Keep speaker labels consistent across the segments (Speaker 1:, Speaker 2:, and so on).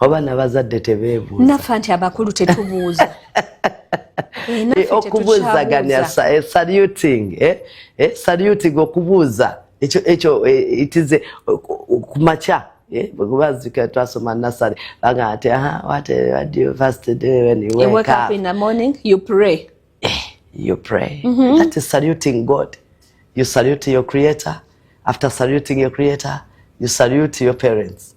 Speaker 1: oba
Speaker 2: nabazadde tebebuuza nafa nti abakulu
Speaker 1: tetubuuza eh, eh,
Speaker 2: okubuuzaganya eh, saluting saluting okubuuza ekyo ekyo itize kumakya kubazika twasoma nasary baga ati you
Speaker 1: pray mm
Speaker 2: -hmm. that is saluting god you salute your creator after saluting your creator you salute your parents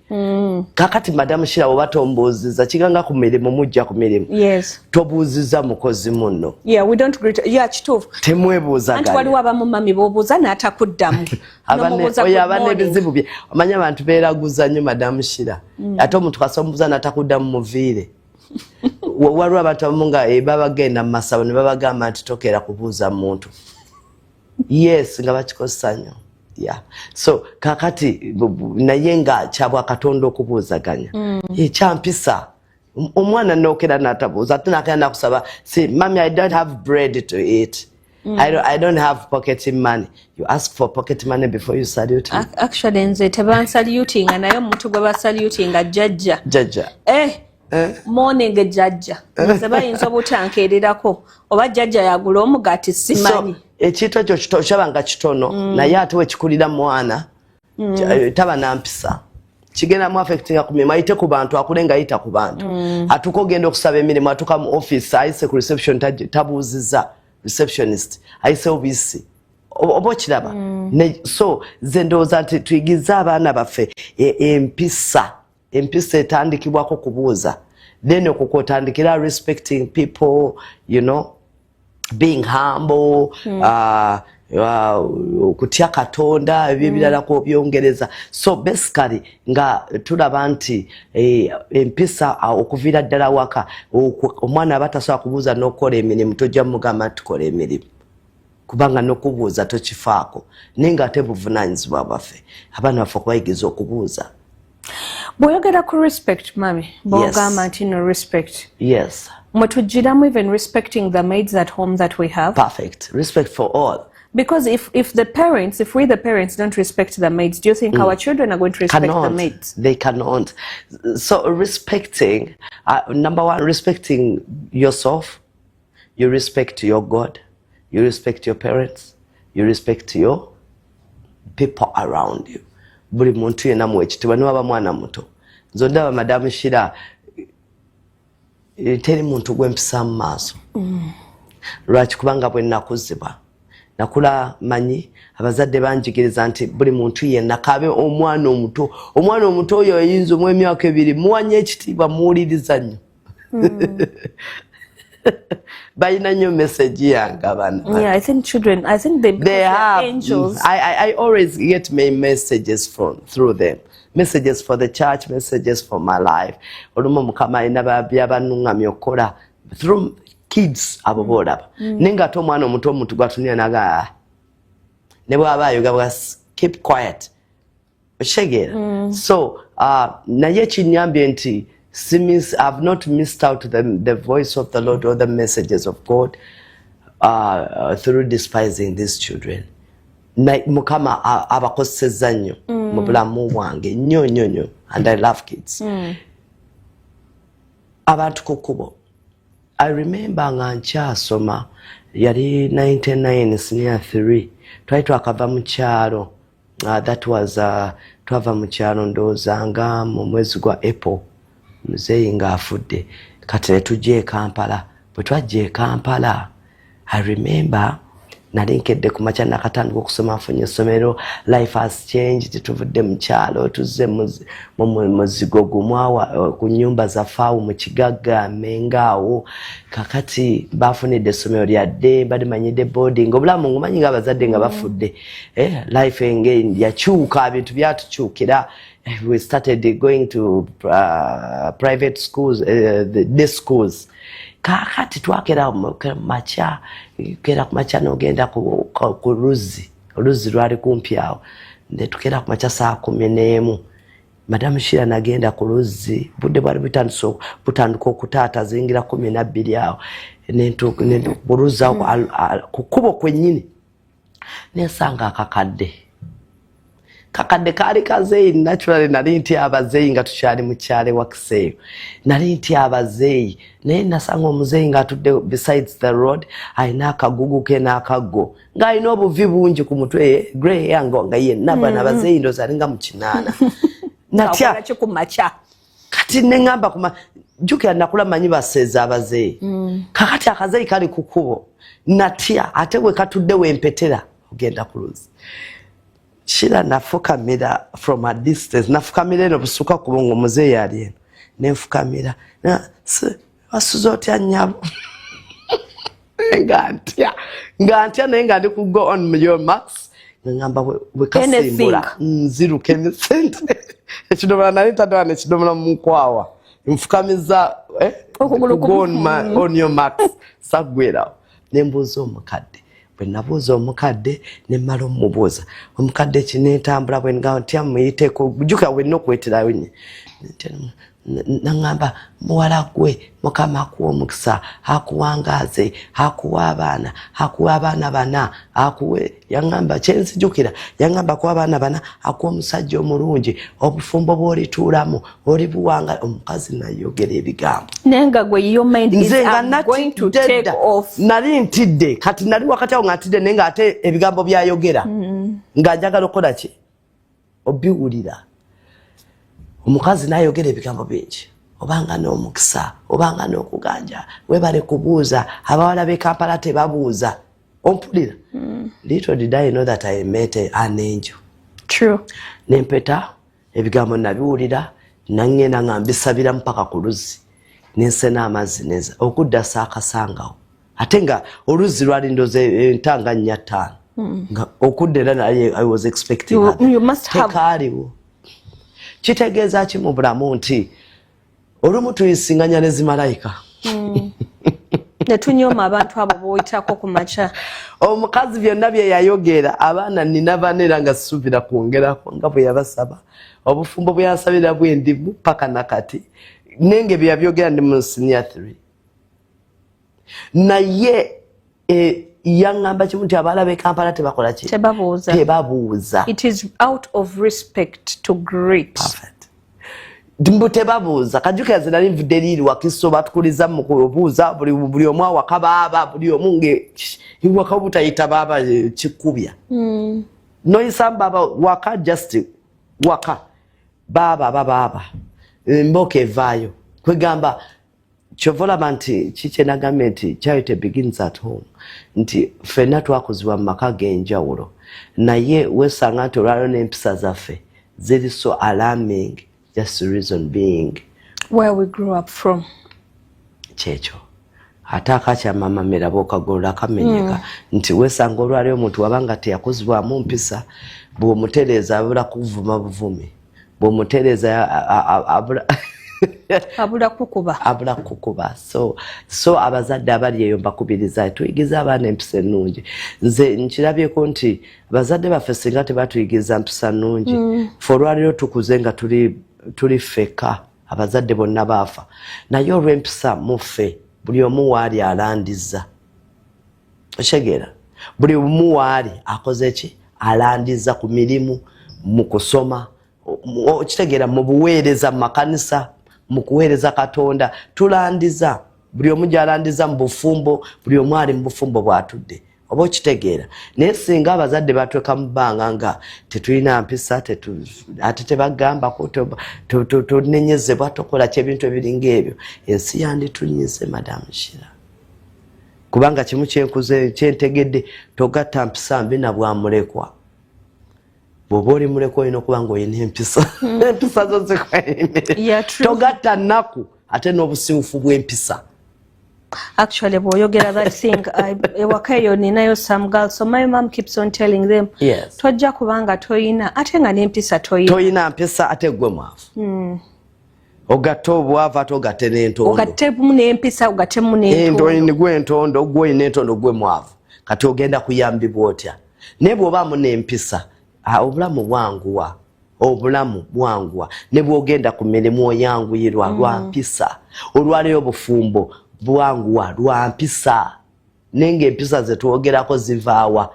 Speaker 2: Mm. kakati madamu shira oba tombuuziza kiganga ku mirimu mujja ku mirimu yes. tobuuziza
Speaker 1: mukozi
Speaker 2: munno yeah,
Speaker 1: yeah, kituufu temwebuuzanti
Speaker 2: waliwo abamu mami
Speaker 1: bobuuza n'atakuddamu oyo
Speaker 2: aba n'ebizibu bye omanyi abantu beeraguza nnyo madamu shira mm. ate omuntu kasa omubuuza n'atakuddamu muviire waliwo abantu abamu nga eh, babagenda mu masabo ne babagamba nti tokeera kubuuza muntu yes nga bakikozesa nyo yeah. so kakati naye nga kyabwa katonda okubuuzaganya mm. ekyampisa omwana nokera natabuuza ate nakera nakusaba si mami i don't have bread to eat Mm. I, don't, I don't have pocket money. You ask for pocket money before you salute him. Actually, nze teban
Speaker 1: saluting naye omuntu gwe ba saluting a jajja. Jajja. Eh,
Speaker 2: Eh?
Speaker 1: morning jajja eh? nze bayinza obutankeererako oba jajja yagula omugati simanyi ekintu ekyo
Speaker 2: kyaba nga kitono mm. naye ate wekikulira mwana mm. eh, taba nampisa kigenda mu affectinga ku mirimu ayite ku bantu akule nga ayita ku bantu mm. atuuka ogenda okusaba emirimu atuuka mu office ayise ku reception tabuuziza receptionist ayise obisi oba okiraba mm. so ze ndowooza nti tuyigize abaana baffe e, empisa empisa etandikibwako kubuuza then okwo kwotandikira respecting people you know being humble mm. uh, uh, okutya katonda ebyo ebirala mm. kwobyongereza so basically nga tulaba nti eh, empisa uh, okuviira ddala waka omwana aba tasobola kubuuza n'okukola emirimu tojja mugamba nti kola emirimu kubanga nokubuuza tokifaako naye nga ate buvunanyizibwa bwaffe abaana baffe okubayigiriza okubuuza
Speaker 1: bwoyogera ku respect mami bwogamba nti no respect yes
Speaker 2: mwetujiramu even
Speaker 1: respecting the maids at home that we have perfect respect for
Speaker 2: all because if if
Speaker 1: the parents if we the parents don't respect the maids do you think mm. our children are going to respect cannot. the maids they cannot
Speaker 2: so respecting uh, number one respecting yourself you respect your god you respect your parents you respect your people around you buli muntu yena muwekitibwa niwaba mwana muto nze ondaba madamu shira eh, teri muntu gwempisa mu maaso mm. lwaki kubanga bwenakuzibwa nakula manyi abazadde banjigiriza nti buli muntu yenna kabe omwana omuto omwana omuto oyo oyinza omwemyaka ebiri muwanya ekitiibwa muwuliriza nnyo mm. balina nnyo message yange
Speaker 1: abana
Speaker 2: messages from through them messages for the church messages for my life olumu mukama alina byabanuŋŋamya okukola through kids abo mm. boolaba mm. naye ngaate omwana omuto omuntu gwatunira naga ah. ne bwaba ayoga bwa keep quiet okitegeera mm. so uh, naye kinyambye nti simis ihave not missed out the, the voice of the lord or the messages of god uh, uh through despising these children mukama abakozesezza nnyo mm. mu bulamu bwange nnyo nnyo nnyo and i love kids mm. abantu ku kkubo i remember nga nkyasoma yali 99 senior 3 twali twakava mu kyalo Uh, that was uh, twava mu kyalo ndowooza nga mu mwezi gwa apple muzeeyi ng'afudde kati ne tujja e kampala bwe twajja e kampala i remember nali nkedde ku makya nakatandika okusoma nfunye essomero life has changed tuvudde mu kyalo tuzze muzigo gumu eh, ku nyumba zaffe awo mu kigagga menga awo kakati bafunidde essomero lyadde balimanyidde boarding obulamu ngumanyi nga abazadde nga bafudde eh, life engeri yakyuka bintu byatukyukira eh, we started going to uh, private schools uh, the day schools kakati twakera makya kera kumakya nogenda ku, ku, ku luzzi oluzzi lwali kumpi awo netukera kumakya saa kumi n'emu madamu shira nagenda ku luzzi budde bwali butandika okutaata zingira kumi nabbiri awo buluzza mm. ku kkubo kwennyini nensanga akakadde kakadde kaali kazeeyi naturally nali nti abazeeyi nga tukyali mukyale wakiseeyo nali nti abazeeyi naye nasanga omuzeeyi ngaatudde besides the road alina akagugu ke n'akaggo ng'alina obuvi bungi ku mutwe ye grey yango nga yenna bana mm-hmm. bazeeyi ndozi alinga mu kinaana natya
Speaker 1: kati
Speaker 2: nengamba kuma jukira nakula manyi baseza abazeyi mm. kakati akazeyi kali kukubo natya ate we katudde wempetera ogenda kuluzi shira nafukamira from a distance nafukamira eno busuka kubongo muzeyi ali eno nenfukamira na, wasuze otya nyabo nga ntya nga ntya naye nga ndi ku go on your marks ngamba wekasimbula nziruka emisinde ekidomola nali ntadala nekidomola munkwawa nfukamiza eh, on your marks sagwerawo ne mbuuza omukadde bwe nabuuza omukadde ne mmala omubuuza omukadde kinentambula bwe nga ntya muyiteko jukira wenna okuweterayo nye naŋamba muwala gwe mukama akuwa omukisa akuwangaaze akuwa abaana akuwa abaana bana akuwe yaŋamba kyenzijukira yaŋamba kuwa abaana bana akuwa omusajja omulungi obufumbo bwolituulamu oli buwanga omukazi nayogera ebigambo nze nga
Speaker 1: natidde nali ntidde
Speaker 2: kati nali wakati awo nga ntidde naye nga ate ebigambo byayogera mm. nga njagala okukola ki obiwulira omukazi nayogera ebigambo bingi obanga n'omukisa obanga n'okuganja webale kubuuza abawala b'e kampala tebabuuza ompulira mm. little did i know that i met an angel true
Speaker 1: nempeta
Speaker 2: ebigambo nabiwulira nangenda nga mbisabira mpaka ku luzzi nensena amazzi neza okudda saakasangawo ate nga oluzzi lwali ndoze entanga nnya ttaano hmm. nga okudda era naye i was expectingtekaaliwo kitegeeza ki mu bulamu nti olumu tuyisinganya ne zimalayika hmm.
Speaker 1: netunyoma abantu abo boyitako ku makya omukazi
Speaker 2: byonna bye yayogera abaana nina bana era nga sisuubira kwongerako nga bwe yabasaba obufumbo bwe yansabira bwendimu paka nakati nenge bye yabyogera ndi mu senior three naye e, yaŋŋamba kimu nti abaala b'e kampala tebakola ki tebabuuza tebabuuza it is out
Speaker 1: of respect to great Perfect.
Speaker 2: mbu tebabuuza kajukira ze nali nvudde liiri wakiso batukuliza mukubuuza buli omu awaka baaba buli omu nge iwaka obutayita baaba eh, kikubya hmm. noyisa mbaaba waka just waka baaba babaaba eh, mboka evaayo kwegamba kyova olaba nti kikyenagambye nti charity begins at home nti fenna twakuzibwa mu maka g'enjawulo naye wesanga nti olwalio n'empisa zaffe ziri so alarming
Speaker 1: just
Speaker 2: reason
Speaker 1: being
Speaker 2: where we
Speaker 1: grew up
Speaker 2: from kyekyo ate akakyamama miraba okagolola akamenyeka mm. nti wesanga olwalio omuntu wabanga teyakuzibwamu mpisa bwomutereeza abula kuvuma buvumi bwomutereza abula abula kukuba abula kukuba so so abazadde abali eyo mbakubiriza tuyigirize abaana empisa ennungi nze nkirabyeko nti abazadde baffe singa tebatuyigiriza mpisa nnungi mm. fe olwaliro tukuze nga tuli tuli feka abazadde bonna baafa naye olw'empisa muffe buli omu waali alandiza okitegeera buli omu waali akoze ki alandiza ku mirimu mu kusoma okitegeera mu buweereza mu makanisa mu kuweereza katonda tulandiza buli omu gyalandiza mu bufumbo buli omu ali mu bufumbo bwatudde oba okitegeera naye singa abazadde batweka mu bbanga nga tetulina mpisa ate tebagambako tunenyezebwa tokola ky ebintu ebiringa ebyo ensi yanditunyize madamu shira kubanga kimu kyenkuze kyentegedde togatta mpisa mbi nabwamulekwa bwoba oli mulekwa olina okuba nga olina empisa hmm. empisa zo zikwaimire togatta nnaku ate n'obusiwufu bw'empisa
Speaker 1: actually bwoyogera that thing ewaka eyo ninayo some girl so my mom keeps on telling them yes. tojja kubanga toyina ate nga nempisa toyina toyina mpisa ate
Speaker 2: gwe mwavu mm. ogatte obwavu ate ogatte nentondogattemu nempisa
Speaker 1: ogattemu nendonigwe entondo
Speaker 2: ogwe olina entondo gwe mwavu kati ogenda kuyambibwa otya naye bwobaamu nempisa obulamu bwanguwa obulamu bwanguwa ne bwogenda ku mirimu oyanguyirwa mm. lwa mpisa olwaleero obufumbo bwanguwa lwa mpisa naye ngaempisa zetwogerako zivaawa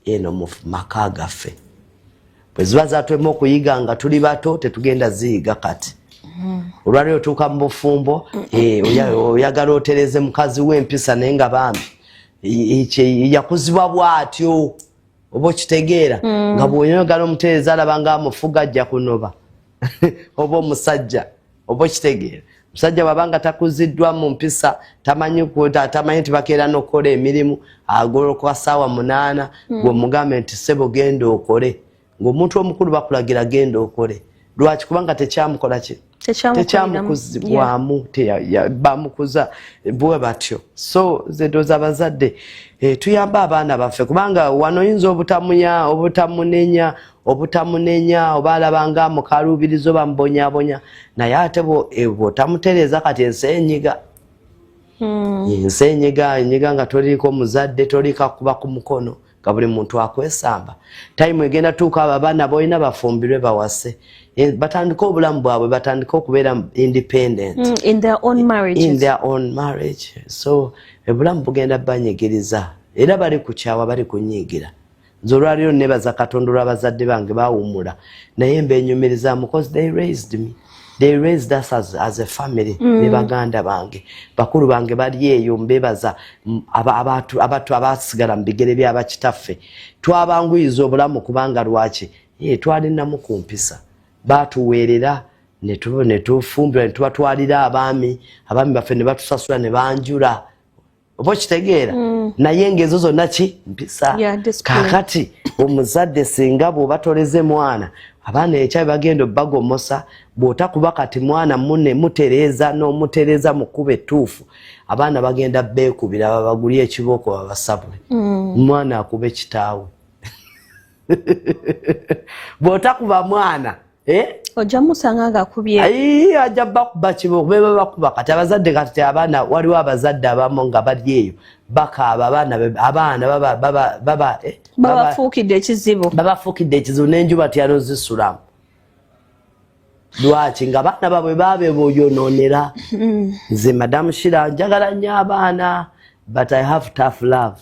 Speaker 2: eno mu maka gaffe bwe ziba zatwemu okuyiga nga tuli bato tetugenda ziyiga kati hmm. olwaliro otuuka mu bufumbo eh, oyagala otereze mukazi w'empisa naye nga bambi yakuzibwa bwatyo oba okitegeera hmm. nga bwonyogala omutereza alaba nga amufuga ajja kunoba oba omusajja oba okitegeera musajja wabanga takuziddwa mu mpisa tamanyi kuta tamanyi nti bakeera n'okukola emirimu agolokoka saawa munaana hmm. gweomugambe nti sebo genda okole ng'omuntu omukulu bakulagira genda okole lwaki kubanga tekyamukola ki tekyamukuzibwamu bamukuza bwe batyo so zedoza abazadde eh, tuyamba abaana baffe kubanga wano oyinza obutamuya obutamunenya obutamunenya oba alabanga amukaluubiriza oba mubonyabonya naye ate e, bwotamutereeza kati ensi enyiga hmm. ensi enyiga enyiga nga toliiko muzadde tolikakuba ku mukono nga buli muntu akwesamba tayimu egenda tuuka abo abaana boolina bafumbirwe bawase e, batandike obulamu bwabwe batandike okubeera independent hmm, in their own marriage,
Speaker 1: in their own marriage.
Speaker 2: so obulamu bugenda banyigiriza era bali kukyawa bali kunyiigira nze olwaliro nebaza katonda olwa bazadde bange bawumula naye mbenyumirizamu bcause they raised me they raised us as, as a family mm. ne baganda bange bakulu bange bali eyo mbebaza abatu abatu abasigala mu bigere bya bakitaffe twabanguyiza obulamu kubanga lwaki ye twalinamu ku mpisa batuweerera netufumbira ne tubatwalira abaami abaami baffe ne batusasula ne banjula oba okitegeera mm. naye ngaezo zonna ki mpisa kakati omuzadde singa bwoba toleze mwana abaana ekyabi bagenda obagomosa bwotakuba kati mwana mune mutereeza nomutereeza mukuba etuufu abaana bagenda beekubira babagulya ekibooko babasabule mm. mwana akube kitaawe bwotakuba mwana eh? ojja
Speaker 1: musanga nga kubye ayi ajja bakuba
Speaker 2: kibo beba bakuba kati abazadde kati abaana waliwo abazadde abamu nga bali eyo bakaaba abaana abaana baba baba baba eh,
Speaker 1: babafuukidde ekizibu babafuukidde ekizibu n'enjuba tyano
Speaker 2: zisulamu lwaki nga baana babwe babe boyonoonera mm. nze madamu shira njagala nnyo abaana but i have tough love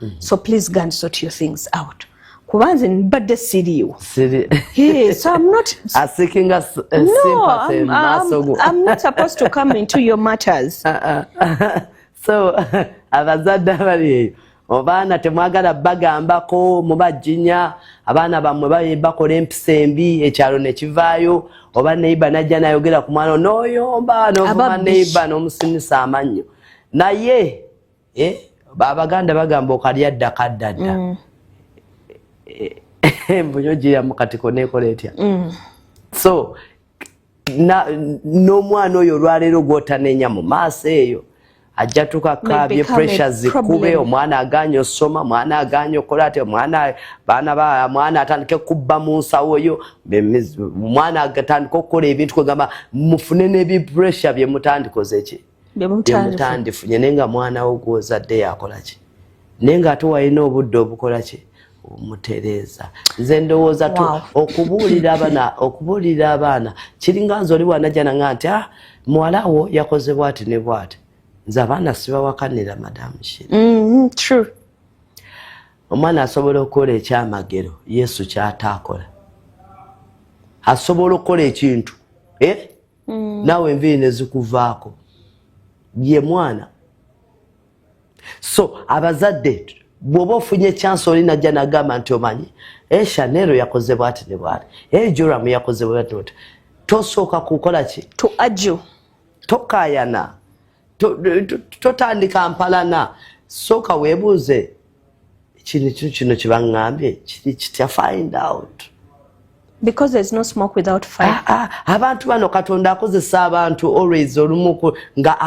Speaker 1: mm -hmm. so please go and sort your things out kuba nze mbadde siriiwo
Speaker 2: so
Speaker 1: abazadde
Speaker 2: abali
Speaker 1: eyo
Speaker 2: obaana temwagala bagambako mubajinya abaana bamwe baye bakola empisa embi ekyalo nekivaayo oba neiba najja nayogera ku mwana noyomba novuma neiba nomusinisa amannyo naye eh? abaganda bagamba okalya dda kadda dda mm. eh, eh, mbuyo gyeyamu kati konekola etya mm. so n'omwana oyo olwaleero gwotanenya mu maaso eyo ajja tuka kabye pressure zikube omwana aganye osoma omwana aganye okola ati omwana baana ba mwana atandike kubba mu nsawo yo omwana atandike okukola ebintu kwegamba mufune n'ebi pressure bye mutandikoze ki byemutandifu nyene nga mwana wo gwozadde yakolaki naye nga ate walina obudde obukolaki omutereeza nze ndowooza tu okubuulira abana okubuulira abaana kiringa nze oli wanajana nga nti ah muwala wo yakoze bwati ne bwati nze abaana sibawakanira madamu shiri mm-hmm, true omwana asobola okukola ekyamagero yesu kyataakola asobola okukola ekintu eh? mm. naawe enviiri nezikuvaako ye mwana so abazadde bwoba ofunye chance oli najja nagamba nti omanyi e shanero yakoze bwati ne bwati e joram yakoze bwati tosooka kukola ki to ajo
Speaker 1: tokayana
Speaker 2: totandika mpalana sooka weebuuze kino kino kino kyebaŋŋambye kiri kitya find out because
Speaker 1: there's no smoke without fire ah, ah, abantu bano
Speaker 2: katonda akozesa abantu always olumu nga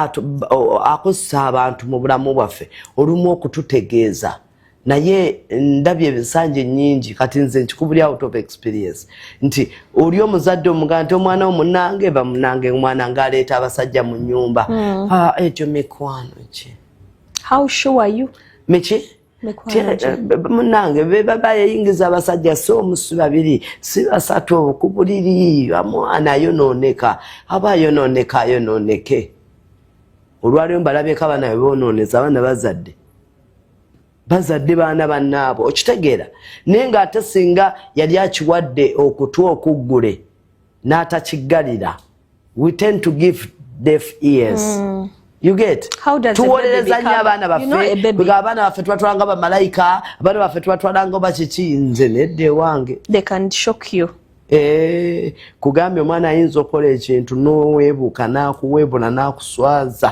Speaker 2: akozesa abantu mu bulamu bwaffe olumu okututegeeza naye ndabye ebisanja enyingi kati nze nkikubuli out of experience nti oli omuzadde omugana nti omwana omunange bamunange omwana nga aleeta abasajja mu nyumba hmm. ah, ekyo mikwano ki how sure
Speaker 1: are you miki eh,
Speaker 2: munange bebaba yeyingiza abasajja si omusi babiri si basatu ku buliri amwana ayonooneka aba ayonooneka ayonooneke olwaliwo mbalabyeko abaana bebononeza abaana bazadde bazadde baana bannaabwe okitegeera naye ng'ate singa yali akiwadde okutu okuggule n'atakiggalira we tend to give deaf ears mm. tuwolereza nnyo abaana baffega abaana baffe tubatwala nga bamalayika abaana baffe tubatwala nga oba kiki nze nedda ewange eh, kugambye omwana ayinza okukola ekintu n'oweebuuka n'akuweebula n'akuswaza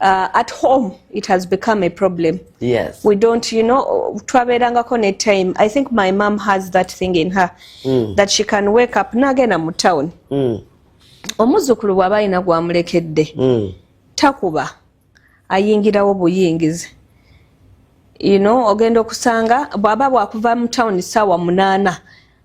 Speaker 1: Uh, at home it has become a problem yes we don't
Speaker 2: you know
Speaker 1: twaberangako ne time i think my mom has that thing in her mm. that she can wake up nagenda mu town mm. omuzukulu bwaba alina gwamulekedde mm. takuba ayingirawo buyingizi you know ogenda okusanga bwaba bwakuva mu town sawa munana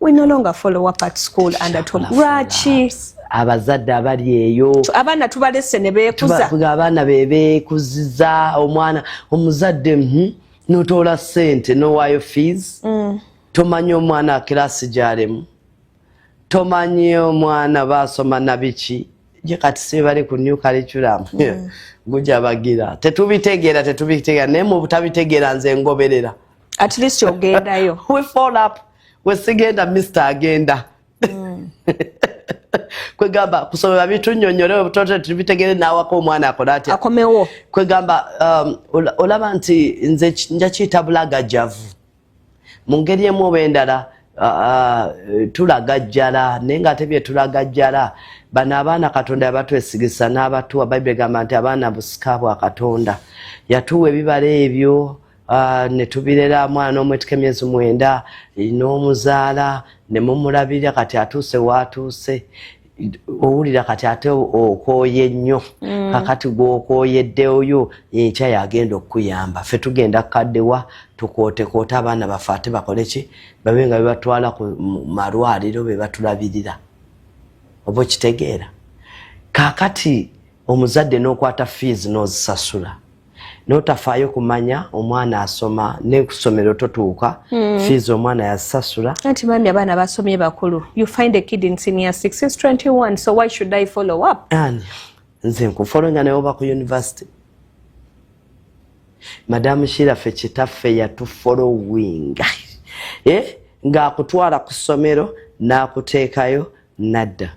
Speaker 1: we no longer follow up at school and at home lwaki abazadde
Speaker 2: abali eyo abaana tubalese ne
Speaker 1: beekuza abaana be
Speaker 2: beekuziza omwana omuzadde mhm, notoola sente nowaayo fees mm. tomanyi omwana kirasi gyalemu tomanyi omwana baasoma nabiki je kati sibali ku new curriculum mm. gujabagira tetubitegeera tetubitegeera naye mu butabitegeera nze ngoberera at least
Speaker 1: ogendayo we fall up
Speaker 2: wesigenda mister agenda mm. kwegamba kusomera bintu nyonyole obutote tubitegere nawako omwana akole atya akomewo kwegamba um, olaba nti nze nja kiyita bulagajjavu mu ngeri emu oba endala uh, uh, tulagajjala naye nga ate byetulagajjala bano abaana katonda yabatwesigisa n'abatuwa bayibuli egamba nti abaana busika bwa katonda yatuwa ebibala ebyo Ah, ne tubirera mwana omwetika emyezi mwenda n'omuzaala ne mumulabirira kati atuuse waatuuse owulira kati ate okooye nnyo mm. kakati gwokooyeddeoyo enkya yagenda okukuyamba fe tugenda kukaddewa tukootekoota abaana baffe ate bakole ki babe nga bebatwala ku malwaliro bebatulabirira oba okitegeera kakati omuzadde n'okwata fiizi n'ozisasula notafaayo kumanya omwana asoma nekusomero totuuka mm. fees omwana yasasula anti mami abaana
Speaker 1: basomye bakulu you find a kid in senior 6 since 21 so why should i follow up ani nze
Speaker 2: nkufolonga naye oba ku university madamu shirafe kitaffe yatufolowinga eh? ng'akutwala ku ssomero n'akuteekayo nadda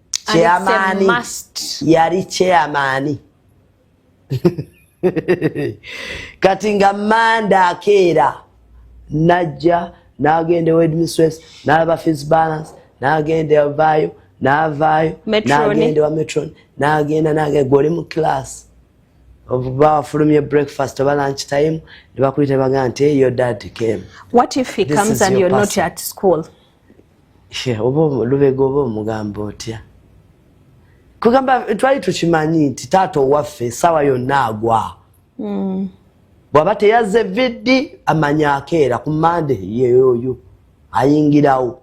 Speaker 2: chairman yali chairman kati nga manda akeera najja nagenda wedmiswes nalaba fis balance nagenda avaayo navaayo nagenda wa metron nagenda nagenda gwe oli mu class oba wafulumye breakfast oba lunch time nebakulita bagaa nti eyo dad came what if he comes
Speaker 1: and you're not at school
Speaker 2: oba lubega oba omugamba otya kugamba twali tukimanyi nti taata owaffe esaawa yonna agwa hmm. bwaba teyazze viddi amanya akeera ku mande yeyoyo ayingirawo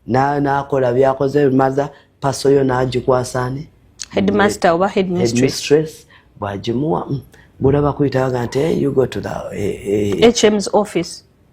Speaker 2: nakola byakoze maza paso yo nagikwasani headmaster
Speaker 1: oba headmistress bwagimuwa
Speaker 2: mm. bulaba kuyitaga nti eh, you go to the eh, eh, hm's
Speaker 1: office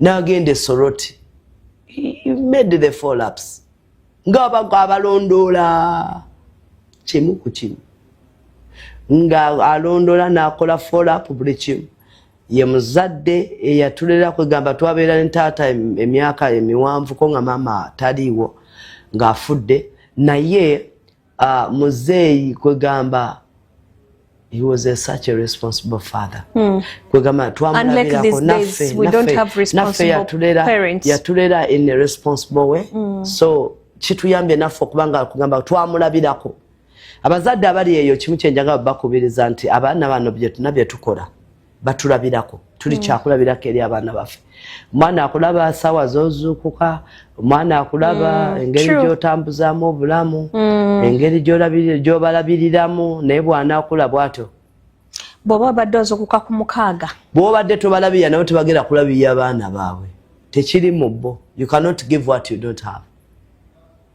Speaker 2: n'agenda esoroti made the follaps ng'abaga abalondoola kimu ku kimu nga alondoola n'akola follap buli kimu ye muzadde eyatulera kwegamba twabeera ne taata emyaka emiwanvuko nga maama taliiwo ng'afudde naye uh, muzeeyi kwegamba he was a such a responsible father mm. kwegamba twamulabirako naffe naffe yatulera in a responsible way mm. so kituyambye naffe okubanga kugamba twamulabirako abazadde abali eyo kimu kyenjaga bakubiriza nti abaana bano byetuna byetukola batulabirako tuli mm. kyakulabirako eri abaana baffe omwana akulaba sawa zozuukuka omwana akulaba mm. engeri gyotambuzamu obulamu mm. engeri gyobalabiriramu naye bwana akula bwatyo bwoba
Speaker 1: obadde ozukuka ku mukaaga bwobadde tobalabirira
Speaker 2: nabo tebagenda kulabirira abaana baabwe tekiri mu bo you cannot give what you don't have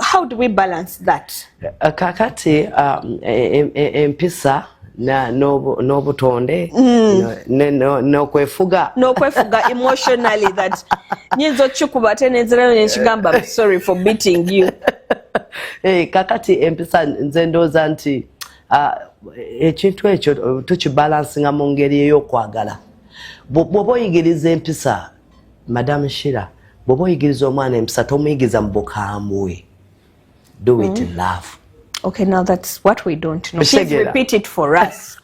Speaker 1: How do we balance that? Uh, kakati
Speaker 2: um, empisa n'obutonde mm. n'okwefuga n'okwefuga emotionally
Speaker 1: that nyinza okikuba ate nenzirayo nenkigamba sorry for beating you eh,
Speaker 2: kakati empisa nze ndooza nti uh, ekintu ekyo tukibalansinga mu ngeri ey'okwagala bw'oba oyigiriza empisa madam shira bwoba oyigiriza omwana empisa tomuyigiriza mu bukambwe do it mm. love okay now that's
Speaker 1: what we don't know please repeat it for us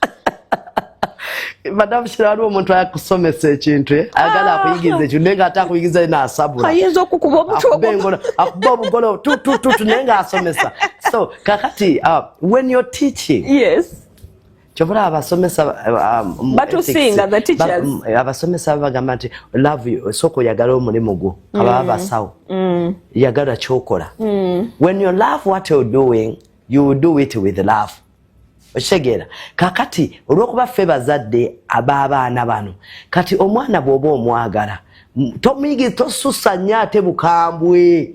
Speaker 2: madam shira waliwo omuntu ayakusomesa ekintu eh? ayagala ah. akuyigiriza ekintu naye nga ate akuyigiriza ye naasabula ayinza okukuba
Speaker 1: omutuokuba obugolo
Speaker 2: tutututu naye nga asomesa so kakati uh, when you're teaching yes
Speaker 1: kyovula
Speaker 2: abasomesa
Speaker 1: abasomesa babagamba
Speaker 2: nti love esooka oyagala omulimu gwo mm. ababa basawo mm. yagala kyokola mm. when you love what you're doing you do it with love okitegeera kakati olwokuba ffe bazadde ab'abaana bano kati omwana bwoba omwagala tosusa nnyo ate bukambwe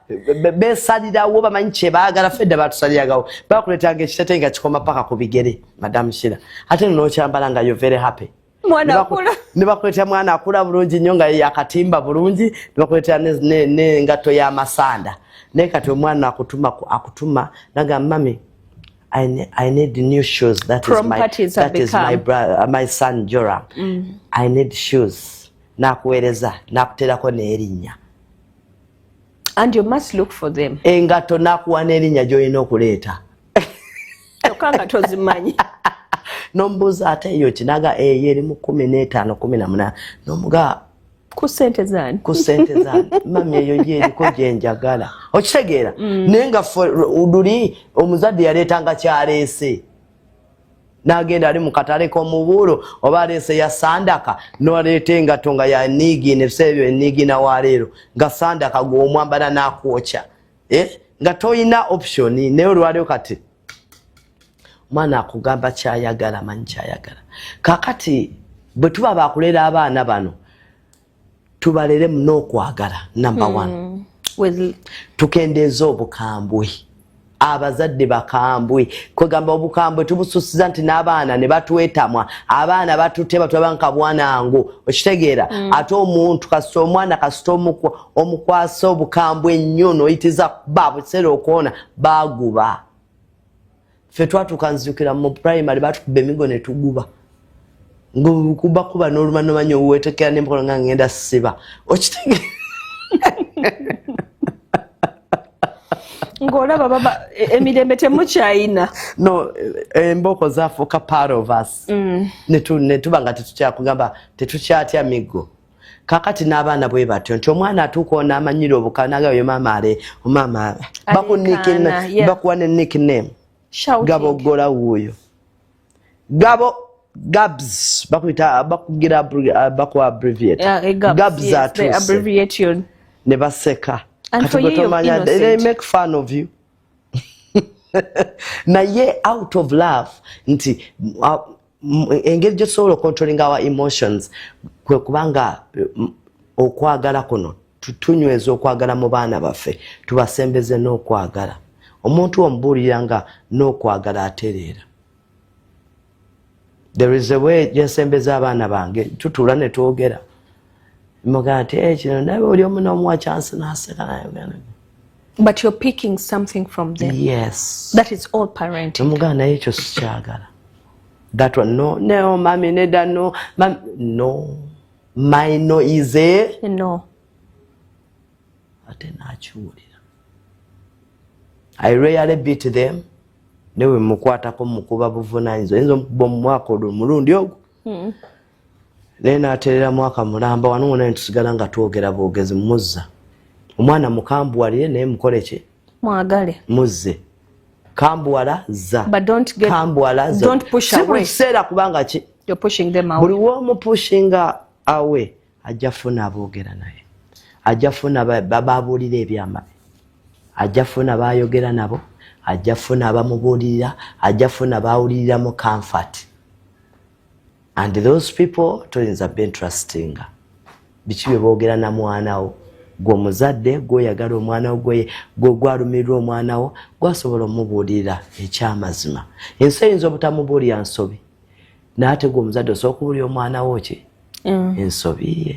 Speaker 2: besalirawo bamanyi kyebagala fedda batusaliragawo bakuletanga ekitete nga kikoma paka ku bigere madam shira ate nokyambala nga yo very happy
Speaker 1: nebakuletera mwana
Speaker 2: akula bulungi nyo nga yakatimba bulungi nebakuletera nengato yamasanda naye kati omwana akutuma akutuma naga mami I, ne I need new shoes that is my, that is my, brother, uh, my son jora mm. i need shoes nakuwereza nakuterako nerinnya
Speaker 1: and you must look for them engato nakuwa
Speaker 2: n'erinnya gy'olina okuleeta
Speaker 1: kyokka nga tozimanyi
Speaker 2: nomubuuza ate eyo kinaga eyo eh, erimu kumi n'etaano kumi na munaana nomuga ku sente
Speaker 1: zani ku sente zani mami
Speaker 2: eyo ye eriko gye njagala okitegeera mm. naye nga fuduli omuzadde yaleetanga kyaleese nagenda ali mukatale komubuulo oba aleese ya sandaka noleeta engato nga yaniigiina ebiseera ebyo eniigiina waleero nga sandaka gwomwambala nakwokya eh? nga tolina option naye olwaleo kati omwana akugamba kyayagala manyi kyayagala kakati bwe tuba bakulera abaana bano tubaleremu n'okwagala number hmm. one mm. tukendeeza obukambwe abazadde bakambwe kwegamba obukambwe tubususiza nti n'abaana ne batwetamwa abaana batutema tulaba nka bwanangu okitegeera mm. ate omuntu kasita omwana kasita omukwasa obukambwe ennyo noyitiza ba bukiseera okwona baguba ffe twatuuka nzijukira mu primary batukuba emigo ne tuguba ngaokubakuba n'oluvannyuma nyo wetekera n'empola nga ngenda siba okitege
Speaker 1: ng'olaba baba e, emirembe temukyayina no
Speaker 2: e, embooko zafuuka part of us mm. ne tuba nga tetukyakugamba tetukyatya miggo kakati n'abaana bwe batyo nti omwana atuuka ono amanyira obuka naga oyo maama ale omaama bakuwa ne nick name gabo ogola wuuyo gabo gabs bakuyita bakugira uh, bakuwa abbreviate eh, gabs atuuse
Speaker 1: ne
Speaker 2: baseka kati gwe tomanya
Speaker 1: they make
Speaker 2: fun of you naye out of love nti uh, engeri gyetusobola ocontrolling our emotions kwe kubanga okwagala kuno tunyweza okwagala mu baana baffe tubasembeze n'okwagala omuntu omubuulira nga n'okwagala atereera there is a way gyensembeza abaana bange tutuula ne twogera mugati eh, kino naye oli omu nomuwa chansi naseka nayogana but you're
Speaker 1: picking something from them yes that is
Speaker 2: all parent
Speaker 1: mugana naye ekyo
Speaker 2: sikyagala that one no no mami neda no mami no my no is a no
Speaker 1: ate
Speaker 2: nakiwulira i rarely beat them newe mukwatako mukuba buvunanyiza oyinza omukuba omumwaka olwo omulundi ogwo hmm. naye naterera mwaka mulamba wano wona netusigala nga twogera bwogezi muzza omwana mukambuwalire naye mukoleki mwagale
Speaker 1: muzze
Speaker 2: kambuwala za kambuwala
Speaker 1: za si buli kiseera kubanga ki
Speaker 2: buli
Speaker 1: womupushinga
Speaker 2: awe ajja funa aboogera naye ajja funa bababuulira ebyamabi ajja funa bayogera nabo ajja funa abamubuulirira ajja funa bawulirira mu kanfati and those people toyinza bentrustinga biki bye boogera na mwana wo gwe omuzadde gwoyagala omwana wo gwalumiriddwa omwana wo gwasobola omubuulirira ekyamazima ensi eyinza obutamubuulira nsobi naye ate gwe omuzadde osobola okubuulira omwana wo ki mm. ensobi ye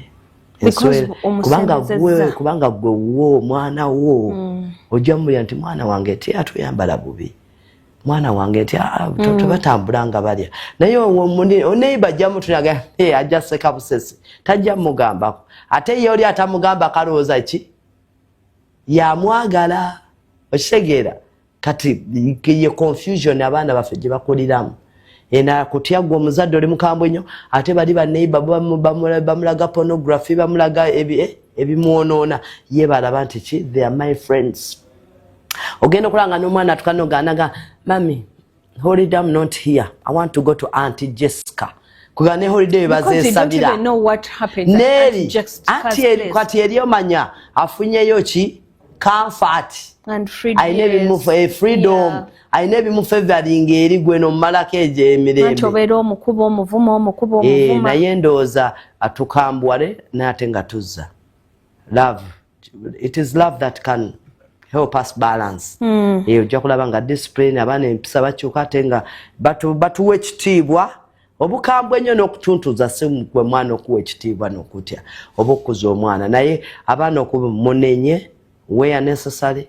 Speaker 2: kubanga gwe wo omwana wo mm. ojja mubulira nti mwana wange teyatuyambala bubi mwana wange nti ah, mm. tebatambula nga balya naye oneiba ajja mutunaga eh, ajja seka busesi tajja mugambako ate ye oli atamugamba kalowooza ki yamwagala okitegeera kati ye confusion abaana baffe gye bakuliramu ena kutya gwe omuzadde oli mukambwe nnyo ate bali baneiba bamulaga pornography bamulaga eh, ebimwonoona ye balaba nti ki they are my friends ogenda okulanga n'omwana atuka noganaga mami holiday am not here i want to go to anti jessica kuba ne holiday webazesabira
Speaker 1: neri kati eri omanya
Speaker 2: afunyeyo ki comfort
Speaker 1: alina ebimufu e
Speaker 2: freedom alina ebimufu evalinga eri gwe nomumalako egyo
Speaker 1: emirembenaye eh,
Speaker 2: ndowooza atukambuwale naye ate nga tuzza love it is love that can help us balance mm. e, ojja kulaba nga discipline abaana empisa bakyuka ate nga batuwa batu ekitiibwa obukambwe ennyo n'okutuntuza sigwe mwana okuwa ekitiibwa n'okutya oba okukuza omwana naye abaana okumunenye where necessary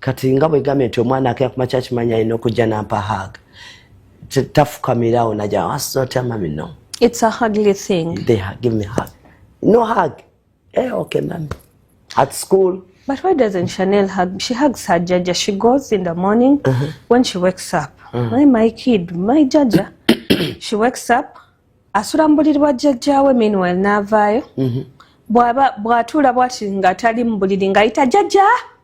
Speaker 2: kati nga bwegambye nti omwana akera ku makya kimanyi alina okujja nampa hag tafukamirawo naja asotya mami no it's a hugly
Speaker 1: thing they give me hug
Speaker 2: no hug eh, okay mami at school but why doesn't
Speaker 1: chanel hug she hugs her jaja she goes in the morning uh -huh. when she wakes up uh -huh. my, my kid my jaja she wakes up asula mu buliri bwa jajjawe meanwhile naavaayo mm -hmm. bwatuula bwati nga tali mu buliri ng'ayita jajja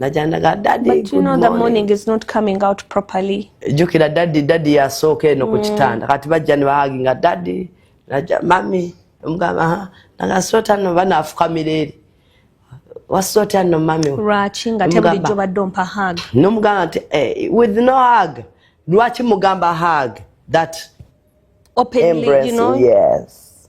Speaker 2: najandaga
Speaker 1: jukira dadi
Speaker 2: dadi yasooka eno ku mm. kitanda kati bajja nebahaginga dadi naja mami omugamba nagasota no banafukamira eri wasota no mami lwaki nga tebulijjo
Speaker 1: badde ompa hag nomugamba nti
Speaker 2: eh, with no hag lwaki mugamba hag that openly,
Speaker 1: embrace, you know?
Speaker 2: yes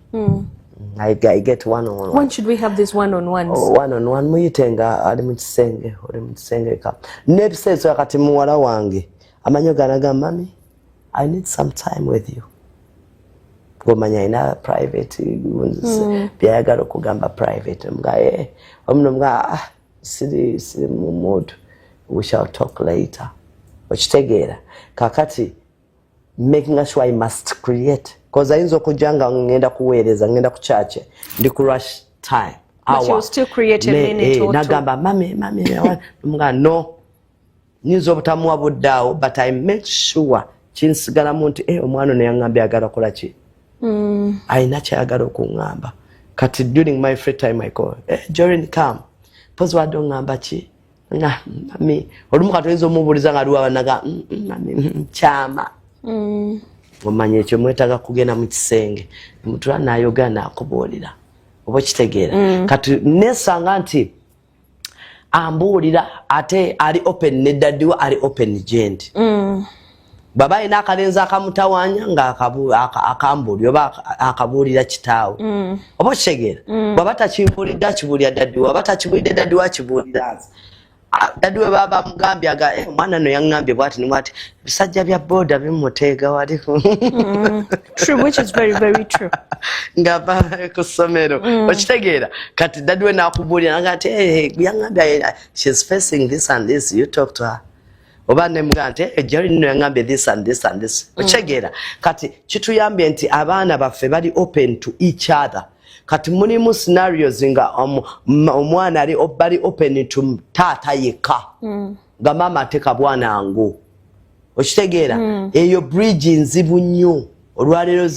Speaker 2: mm. I, I get one on one. When should we have this one
Speaker 1: on one? Oh, one on one
Speaker 2: muyitenga ali mu kisenge oli mu kisenge ka n'ebiseeso yakati muwala wange amanyo ganaga mami I need some time with you ngomanya alina private mm. byayagala okugamba private mga e eh, omuno mga ah, siri siri mu mood we shall talk later okitegeera kakati making sure i must create bcause ayinza okujja nga ngenda kuweereza ngenda ku kyakye ndi ku rush time
Speaker 1: eh, nagamba mame mame
Speaker 2: mga no nyinza obutamuwa buddaawo but i make sure kinsigalamu nti eh, omwana ono yaŋambye agala kola ki mm. ayina kyayagala okuŋŋamba kati during my free time i call eh, jorin come pozi wadde oŋŋamba ki na mami olumu kati oyinza omubuuliza nga liwa banaga mm, mm, mami mm, kyama omanya ekyo mwetaga kugenda mu kisenge mutula nayoga nakubuulira oba okitegeera kati nesanga nti ambuulira ate ali open ne dadiwa ali open gendi bwaba alina akalenzi akamutawanya nga akambuli oba akabuulira kitaawe mm. oba okitegeera mm. bwaba takibuulidde akibuulira daddiwe oba takibuulidde daddiwe akibuulira nze daddiwe baba bamugambye aga eh, omwana no yaŋambye bwati ni bwati ebisajja bya booda bimuteega wali
Speaker 1: mm. nga baba
Speaker 2: ku ssomero okitegeera kati daddiwe nakubuulira naga nti eh, eh, yaŋambye shes facing this and this you talk to her oba nemugaa nti ejjalo eh, nino yangambye this and this and this mm. okitegeera kati kituyambye nti abaana baffe bali open to each other kati mulimu scenarios nga omwana ali bali open to taata yekka mm. nga maama ateka bwanangu okitegeera mm. eyo bridge nzibu nnyo olwaleero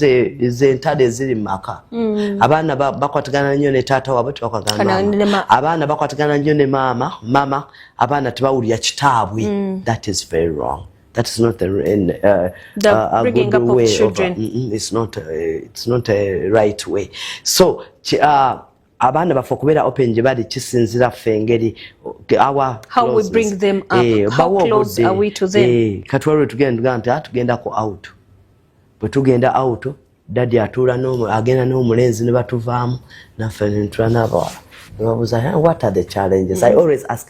Speaker 2: zentalo eziri mumaka mm. abaana bakwatagana nnyo ne taata wabwe tebakwatagana abaana bakwatagana nnyo ne maama mama abaana tebawulira kitaabwe mm. that is very wrong that is not a, in, uh, the uh, a good up
Speaker 1: way of children. Of, uh, mm, mm, it's not a,
Speaker 2: uh, it's not a right way so uh, abaana baffe okubeera open gye bali kisinzira ffe engeri
Speaker 1: katwala lwetugenda tugamba
Speaker 2: nti ah, tugendako out bwe tugenda out dadi atuula agenda n'omulenzi ne batuvaamu naffe nentula n'abawala nebabuuza what are the challenges i mm. always ask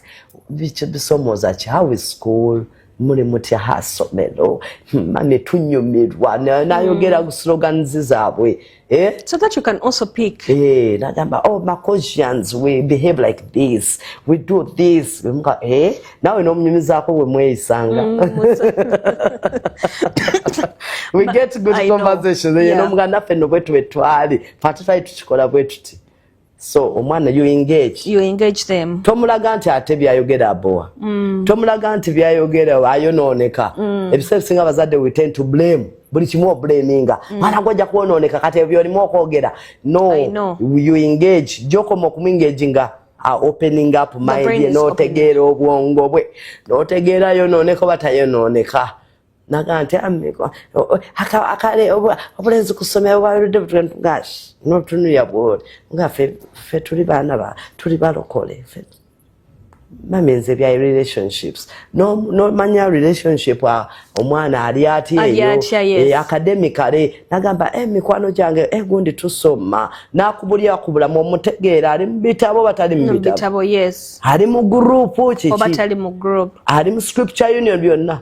Speaker 2: bisomooza ki how is school muli mutya hasomero mane hmm, tunyumirwa nayogera hmm. ku slogans zaabwe eh? so that you
Speaker 1: can also pick eh, nagamba oh
Speaker 2: macosians we behave like this we do this eh? nawe nomunyumizaako wemweyisanga mm, we get good conversation eh, nomuga naffe no bwetu bwetwali fatutali tukikola bwetuti so omwana you engage you engage them tomulaga
Speaker 1: nti ate
Speaker 2: byayogera abowa mm. tomulaga nti byayogera ayonooneka mm. ebiseera bisinga abazadde we tend to blame buli kimu oblaminga mm. mwana gwe ojja kwonooneka kati ebyo olimu okwogera no you engage gyokoma okumwengage nga opening up mind ye n'otegeera obwongo bwe n'otegeera yonooneka oba tayonooneka naga nti akale obulenzi kusomera bwabirudde butwentugashi notunuya bwoli nga fe tuli baana ba tuli balokole mami nze bya relationships nomanya relationship omwana ali atyeyo eh, academicale nagamba eh, mikwano gyange eh, gundi tusoma nakubulya kubulamu omutegeera ali mubitabo batali mubitabo ali mu
Speaker 1: gurupu
Speaker 2: kiki
Speaker 1: ali mu scripture
Speaker 2: union byonna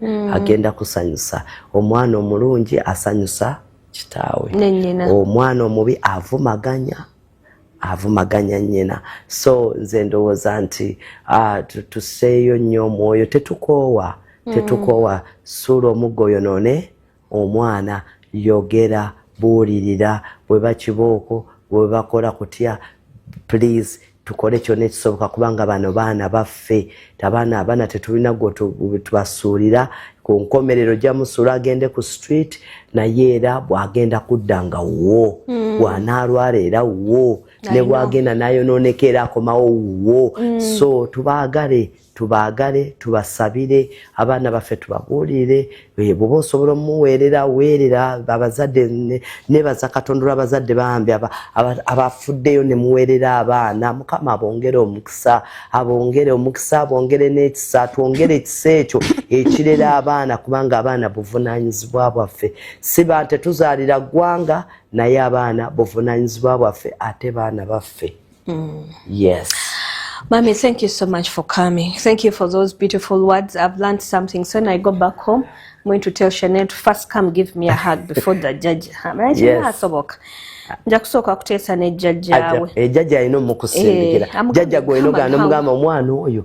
Speaker 2: mm. agenda kusanyusa omwana omulungi asanyusa kitaawe omwana omubi avumaganya avumaganya nyina so nze ndowooza nti uh, tuseeyo nnyo omwoyo tetukoowa mm. tetukoowa suula omuggo yonone omwana yogera buulirira bweba kibooko bwebakola kutya please tukole kyona ekisoboka kubanga bano baana baffe tabaana abaana tetulina gwetubasuulira ku nkomerero jamusuula agende ku street naye era bwagenda kudda nga wuwo mm. bwanaalwala era wuwo ne bwagenda nayonooneka era akomawo wuwo mm. so tubaagale tubaagale tubasabire abaana baffe tubabuulire eh, bwoba osobola omuweerera weerera abazadde nebaza katonda olwabazadde bambi abafuddeyo nemuweerera abaana mukama abongere omukisa abongere omukisa abongere n'ekisa twongere ekisa ekyo ekirera abaana kubanga abaana buvunaanyizibwa bwaffe si ba tetuzaalira ggwanga naye abaana buvunaanyizibwa bwaffe ate baana baffe Mm. Yes. Mommy,
Speaker 1: thank you so much for coming. Thank you for those beautiful words. I've learned something. So when I go back home, I'm going to tell Chanel to first come give me a hug before the judge.
Speaker 2: yes. nja
Speaker 1: kusooka kuteesa ne jjajjaawe ejjajja eh, alina
Speaker 2: omukusindikira eh, jjajja gweoyina ogana omugamba omwana oyo